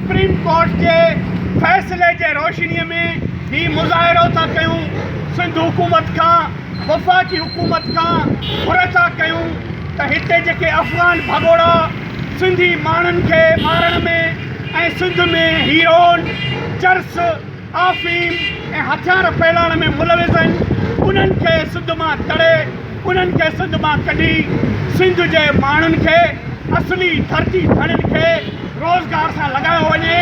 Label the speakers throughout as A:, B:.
A: Supreme court جي فيصلي جي روشني ۾ هي مظاهرو ٿا ڪيون، سنڌ حڪومت کان وفاقي حڪومت کان گهر ٿا ڪيون ته هتي جيڪي افغان ڀڳوڙا سنڌي ماڻهن کي مارڻ ۾ ۽ سنڌ ۾ هيروئن، چرس، افيم ۽ هٿيار ڦهلائڻ ۾ ملوث آهن انهن کي سنڌ مان تڙي انهن کي سنڌ مان ڪڍي سنڌ جي ماڻهن کي اصلي ڌرتي ڌڻين کي روزگار سان لڳايو وڃي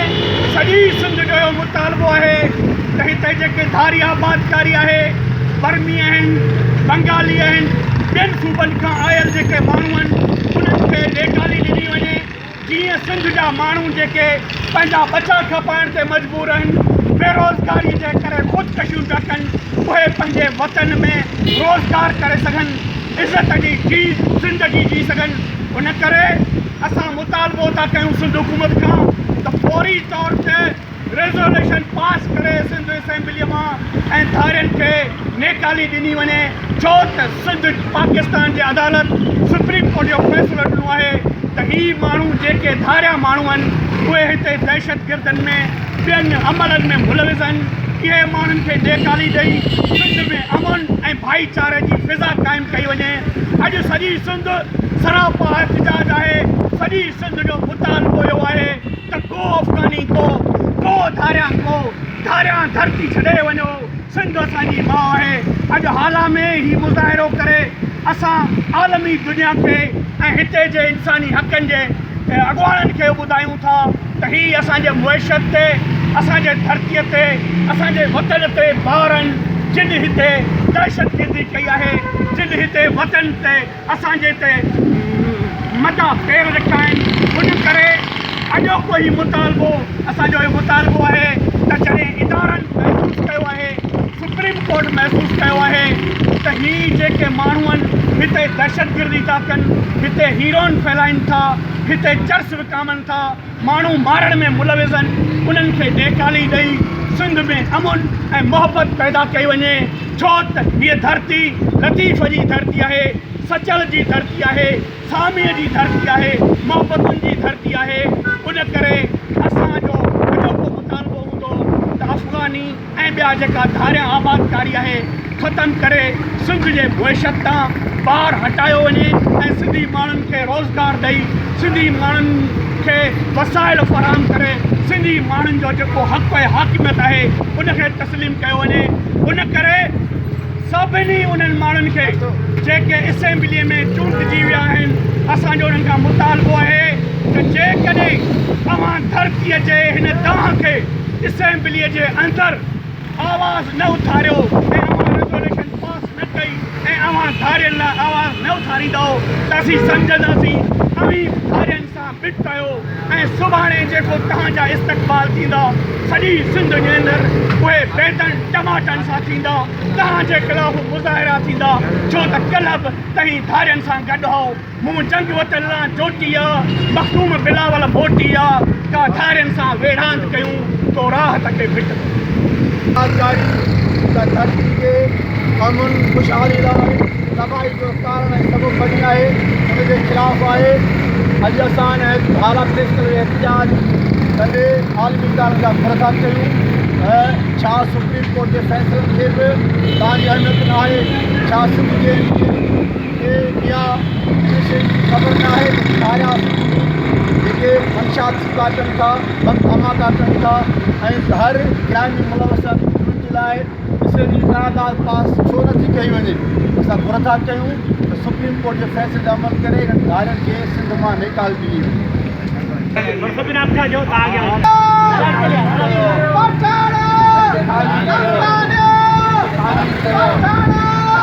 A: سڄي سنڌ جو اهو مطالبو آهي ته هتي جيڪي ڌاري آبادڪاري آهي برمي آهن بنگالي آهن ٻين صوبن کان آيل جيڪي ماڻهو آهن انهن کي ليٽالي ڏني وڃي. جيئن سنڌ جا ماڻهو جيڪي پنهنجا ٻچا کپائڻ تي مجبور آهن، بيروزگاري جي ڪري خودڪشيون پيا ڪن، اهي پنهنجي وطن ۾ روزگار ڪري سگهن، عزت جي جي زندگي جي سگهن، ان ڪري اسان مطالبو ٿا ڪيون سنڌ حڪومت کان ته فوري طور تي ريزوليوشن پاس ڪري سنڌ اسيمبليء مان ۽ ڌارين کي نيڪالي ڏني وڃي ڇو ته سنڌ پاڪستان جي عدالت سپريم ڪورٽ اهو فيصلو ڏنو آهي ته هي ماڻهو جيڪي ڌاريا ماڻهو آهن اهي هتي دهشتگردن ۾ ٻين عملن ۾ ملوث آهن اهي ماڻهن کي نيڪالي ڏئي سنڌ ۾ امن ۽ ڀائيچاري جي فضا قائم ڪئي وڃي اڄ سڄي سنڌ سراپا احتجاج آهي سڄي سنڌ جو مطالبو اهو آهي ته ڪو افغاني ڪو ڪو ڌاريان ڪو ڌاريان ڌرتي ڇڏي وڃو سنڌ اسان جي ماء آهي اڄ هالا ۾ هي مظاهرو ڪري اسان عالمي دنيا کي ۽ هتي جي انساني حقن جي اڳواڻن کي ٻڌايون ٿا ته هي اسان جي معيشت تي اسان جي ڌرتي تي اسان جي وطن تي بارن جن هتي دهشتگردي ڪئي آهي جن هتي وطن تي اسان جي تي مداح پير رکيا آهن ان ڪري اڄوڪو هي مطالبو اسان جو هي مطالبو آهي ته جڏهن ادارن محسوس ڪيو آهي سپريم ڪورٽ محسوس ڪيو آهي ته هي جيڪي ماڻهون هتي دهشتگردي ٿا ڪن هتي هيروئن ڦهلائين ٿا هتي چرس وڪامن ٿا ماڻهو مارڻ ۾ ملوث آهن انهن کي ٽيڪالي ڏئي سنڌ ۾ امن ۽ محبت پيدا ڪئي وڃي ڇو ته هيء ڌرتي لطيف جي ڌرتي آهي سچل جي ڌرتي آهي ساميء جي ڌرتي آهي محبتن جي ڌرتي آهي ان ڪري اسان جو اڄوڪو مطالبو هوندو ته افغاني ۽ ٻيا جيڪا ڌاريا آبادڪاري آهي ختم ڪري سنڌ جي معيشت تان بار هٽايو وڃي ۽ سنڌي ماڻهن کي روزگار ڏئي سنڌي ماڻهن کي وسائل فراهم ڪري سنڌي ماڻهن جو جيڪو حق ۽ حاڪميت آهي ان کي تسليم ڪيو وڃي ان ڪري سڀني انهن ماڻهن کي جيڪي اسيمبلي ۾ چونڊجي ويا آهن اسان جو انهن کان مطالبو آهي ته جيڪڏهن اوهان ڌرتي جي هن دانهن کي اسيمبليء جي اندر آواز نه اٿاريو ۽ اوهان ريزوليوشن پاس نه ڪئي ۽ اوهان ڌارين لاء آواز نه اٿاريندؤ ته اسين سمجهنداسين اوهين ڌارين سان مٺ ڪيو ۽ سڀاڻي جيڪو توهان جا استقبال ٿيندا سڄي سنڌ جي اندر اهي بيدن ٽماٽن سان ٿيندا توهان جي خلاف مظاهرا ٿيندا ڇو ته ڪلهه به توهين ڌارين سان گڏ هئو. مون جنگ وطن لا جوٽي آ، مخدوم بلاول موٽي آ، ڪا ڌارين سان ويڙهاند ڪيون، تو راهه ته ڪي ڀٽ ڪيون. آزادي ته
B: ڌرتي جي امن خوشحالي لاء تباهي جو ڪارڻ ۽ سبب بڻي آهي، ان جي خلاف آهي. اڄ اسان ان حالات پيش ڪندي احتجاج ڪندي عالمي ادارن جا ٿر ٿا چيون ته ڇا سپريم ڪورٽ جي فيصلن کي به تان جي اهميت ناهي؟ ڇا سنڌ جي ايم پي اين کي اها ان شيء جي خبر ناهي ته ڇايا سنڌي جيڪي منشيات ٿي ٻاٽن ٿا، بم ڌماڪا ڪن ٿا ۽ هر جرائم ۾ ملوث آهن انهن جي لاء اسٽي جي قرارداد پاس ڇو نه ٿي ڪئي وڃي؟ اسان گهر ٿا ڪيون ته سپريم ڪورٽ جي فيصلي تي عمل ڪري انهن ڌارين کي سنڌ مان نيڪال ڏني وڃي.